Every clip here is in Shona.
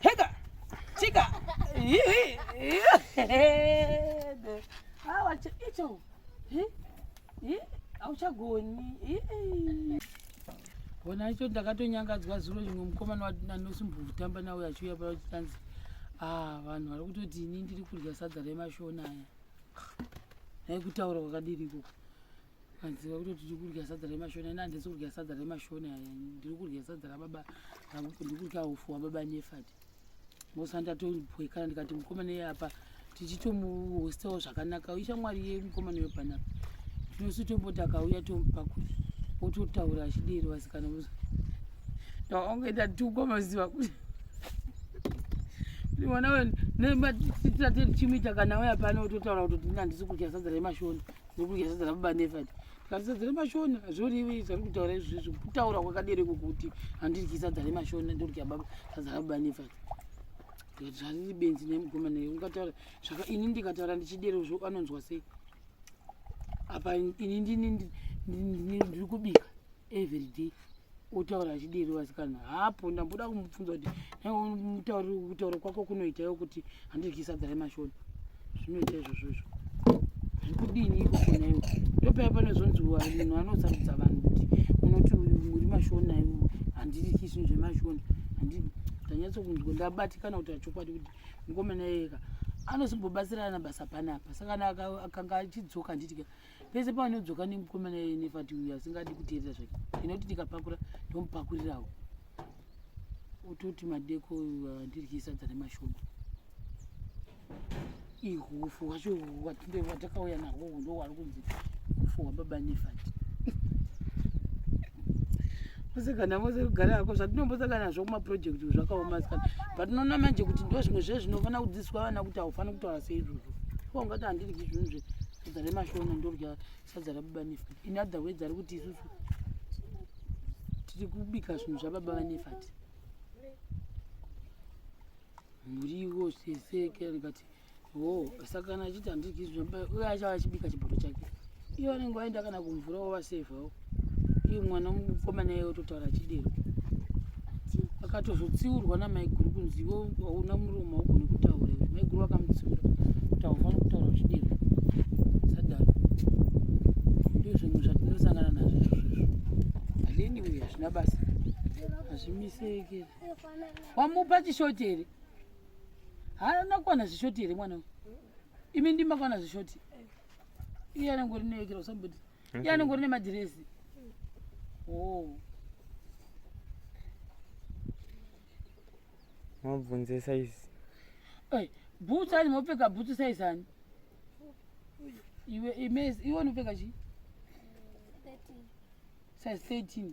Heka. Chika. Awa icho. Hi. Hi. Auchagoni. Bona icho ndakatonyangadzwa zuro rimwe mukomana wandinosimbuka kutamba nawo achiuya pa chitanzi. Ah, vanhu vari kutoti ini ndiri kudya sadza remashona aya. Dai kutaura kwakadiri ikoko. madziva kuti tiri kudya sadza remashoni ani handisi kudya sadza remashoni aya ndiri kudya sadza rababa ndiri kudya ufu wababa nefati ngosa ndatopwekana ndikati mukomana iye apa tichitomuhostawo zvakanaka ishamwari ye mukomana wepanapa tinosi tomboti akauya tomupa kuti ototaura achidero vasikana muzo ndaonge ndatukwa maziva kuti mwana wenu nematateti chimuita kana uya pano ototaura kuti ndina handisi kudya sadza remashoni nekugeza dzana baba nevati tikatisa dzane mashona hazvorivi zvari kutaura izvizvi kutaura kwakadere kokuti handiryisa dzane mashona ndorya baba tadzana baba nevati tikati zvariri benzi nemugoma naye ungataura zvaka ini ndikataura ndichidero zvo anonzwa sei apa ini ndini ndiri kubika everyday utaura achidiri vasikana hapo ndamboda kumubvunza kuti kutaura kwako kunoita yo kuti handidyi sadza remashoni zvinoita izvozvo izvo zvekudini ikokonayo ndopaya pane zvonziwa munhu anosarudza vanhu kuti unoti uri mashona handidi kisi zvemashona handidi ndanyatsokunzwa ndabatikana kuti achokwadi kuti mukomana yeka anosimbobatsirana basa panapa saka kana akanga achidzoka handidika pese paanodzoka nemukomana iye nefati uyu asingadi kuteerera zvake ndinoti ndikapakura ndomupakurirawo utoti madeko andiryisa dzane mashoma ihufu hwacho hwatakauya nahwo hundo hwari kunzi hufu hwababa nefati mose kana mose kugara ako zvatinombosaka nazvo kumaprojekti zvakaoma sikana patinoona manje kuti ndo zvimwe zve zvinofanira kudzidziswa vana kuti haufaniri kutaura seizvozvo ko ungati handiryi zvinhu zve sadza remashona ndodya sadza rababa nefat in other words ari kuti isusu tiri kubika zvinhu zvababa vanefat muriwo seseke ndikati ho saka kana achiti handidyi zvinhu zvababa uye achava achibika chibodo chake iye anenge waenda kana kumvura wova safe hao Iye mwana mukomana iye ototaura chidero. Akatozotsiurwa namaiguru kunzi iwe hauna muromo haugoni kutaura iwe. Maiguru vakamutsiura kuti haufaniri kutaura chidero. Sadaro. Ndizvo zvinhu zvatinosangana nazvo izvozvo. Haleni uye hazvina basa. Hazvimiseke. Wamupa chishoti here? Haana kuwana zvishoti here mwana uyu? Imi ndimakwana zvishoti. Iye anenge uri neekera usamboti. Okay. Iye anongori nemadhirezi. Oh. Mabvunze size. Hey, boots ani mopfeka boots size ani? Iwe imezi iwe unopfeka chi? 13. Size 13.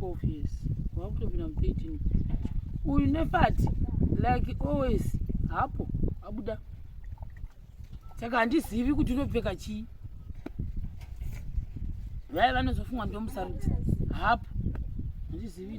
12 years wakutopinda mu 13 uyu nefati like always hapo abuda saka handizivi kuti unopfeka chii vaye vanozofungwa ndomusarudzi hapo handizivi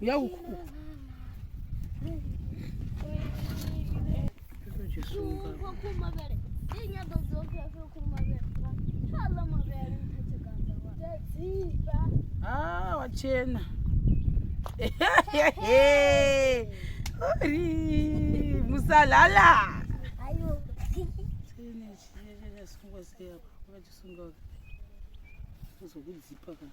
Uya uku. Ah, wachena. Uri musalala. Ayo. Chene chene chene sunga siya. Ukachisunga. Uzokudzipa kana.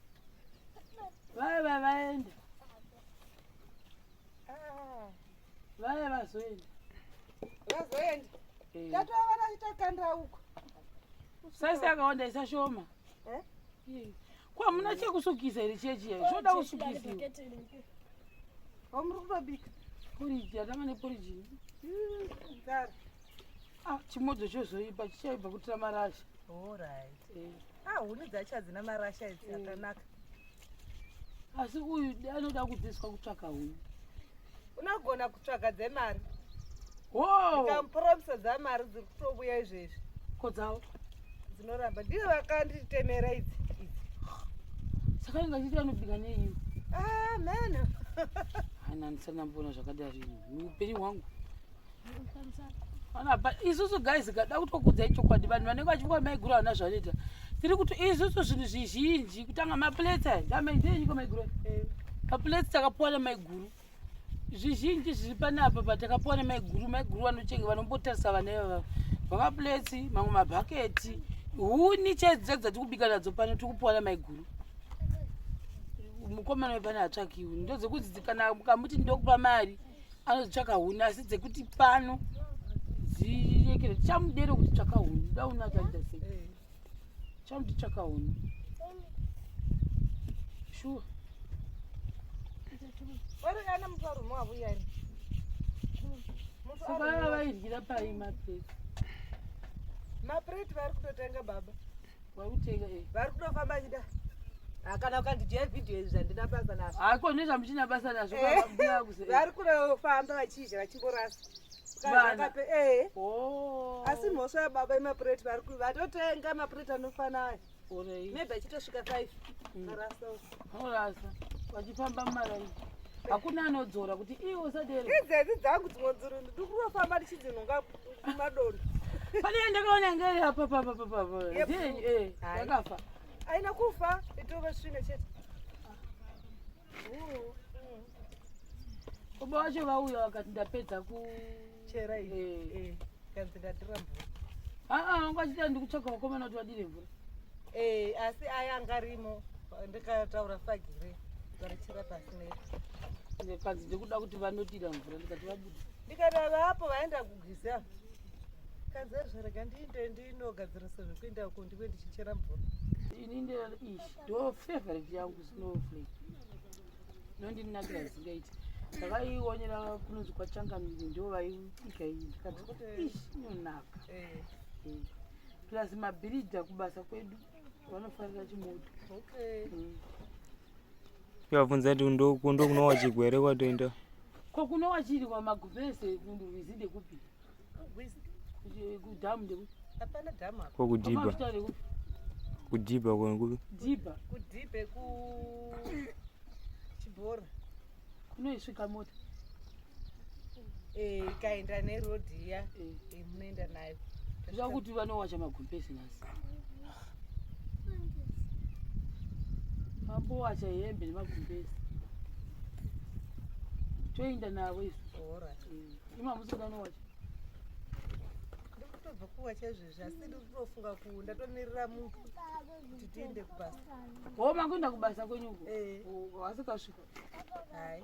Vaya vaya vaenda. Vaya vazoenda. Vazoenda. Eh. Tatova vana itakanda uko. Sasa yakaonda isashoma. Eh? Hmm. Kwa muna chekusukisa iri chechi yayo. Zvoda kusukisa. Omuri kutobika. Poriji, atama neporiji. Hmm, Gara. Ah, chimodzo chozoipa chichaibva kutira marasha orit eh. ah, huni dzacho hadzina marasha idzi eh. akanaka asi uyu anoda kubviswa kutsvaka huni unogona kutsvaga dzemari hokamuporomiso dzamari dziri kutobuya izvezvi ko dzavo dzinoramba ndivo vakanditemera idzi idzi saka inga chiti anobika neiyo ah, mheno hana ndisanamboona zvakadari upenyu hwangu isusu guys kada kutokudzai chokwadi vanhu vanenge vachivuka maiguru havana zvanoita tiri kuti isusu zvinhu zvizhinji kutanga maplates aya ndamaidenyiko maiguru eh. maplates takapuwa nemaiguru zvizhinji zviri panapa patakapuwa nemaiguru maiguru vanochenge vanombotarisa vana ivava vamaplates mamwe mabhaketi huni chaidzo chaidzo dzati kubika nadzo pano tiri kupuwa nemaiguru mukomana wepane hatsvakiwi ndodzokudzidzikana kamuti ndokupa mari anotsvaka huni asi dzekuti pano dziyekere tichamudere kuti tsvaka huni dauna taita sei eh. tichamuti tsvaka huni shuwa vaidyira pai mapreti mapreti vari kutotenga baba vari kutofamba chida ah, kana ukandijaya vhidhiyo izvi zvandina basa nazvo hako ah, nezva muchina basa nazvo vari kunofamba vachizha vachimborasa eh. oh. asi mhosva yababa imapureti vari vatotenga mapureti anofanaya maybe achitosvika five mm. arasa orasa vachifamba mumaraini hakuna anodzora kuti iwo sadere idzedzi dzangu dzimwe dziri ndikurofamba ndichidzinhongapo kumadonda pane yandakaona ngere apa papa papa eh, yakafa aina kufa itove svine chete baba wacho vauya vakati ndapedza kuchera iyi eh. eh, kanzi ndatira mvura aa ah, vanga ah, vachita ndikutsvaga vakomana kuti vadire mvura asi aya anga arimo ndikataura fagire varichira pasi nepa kanzi ndikuda kuti vanodira mvura ndikati vabuda ndikadaro apo vaenda kugwiza kazazvarega ndiinde ndinogadzirisa zvekuenda uko ndive ndichichera mvura ini ndeish ndo favorite yangu snowflake nondinakira zingaiti ndakaiwonera kunonzi kwachangamiri ndo vaiika iyi ndikati ish inonaka eh. eh. plus mabhiridha kubasa kwedu vanofarira chimoto mm. Ndikabvunza kuti ndoku ndokunowa chigwere kwatoenda. Ko kunowa chiri kwa magubese kundirwizi ndekupi? Kudhamu ndekupi? Hapana dhamu apa. Ko kudhiba. Mafuta ndekupi? Kudhiba kwa ngulu. Dhiba. Kudhibe ku chibhora. Kunoisvika mota. eh, ikaenda neroad iya eh. eh, munoenda nayo zvakuti vanowacha magumpesi nhasi mambowacha hembe nemagumpesi toenda navo isu imamusoda anowacha ndikutobva kuwacha izvezvi asi ndikutofunga ku ndatomirira munhu kuti tiende kubasa homa kuenda kubasa kwenyuko wasikasvika hai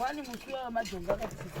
Wani musi wa majonga ka tsitsi.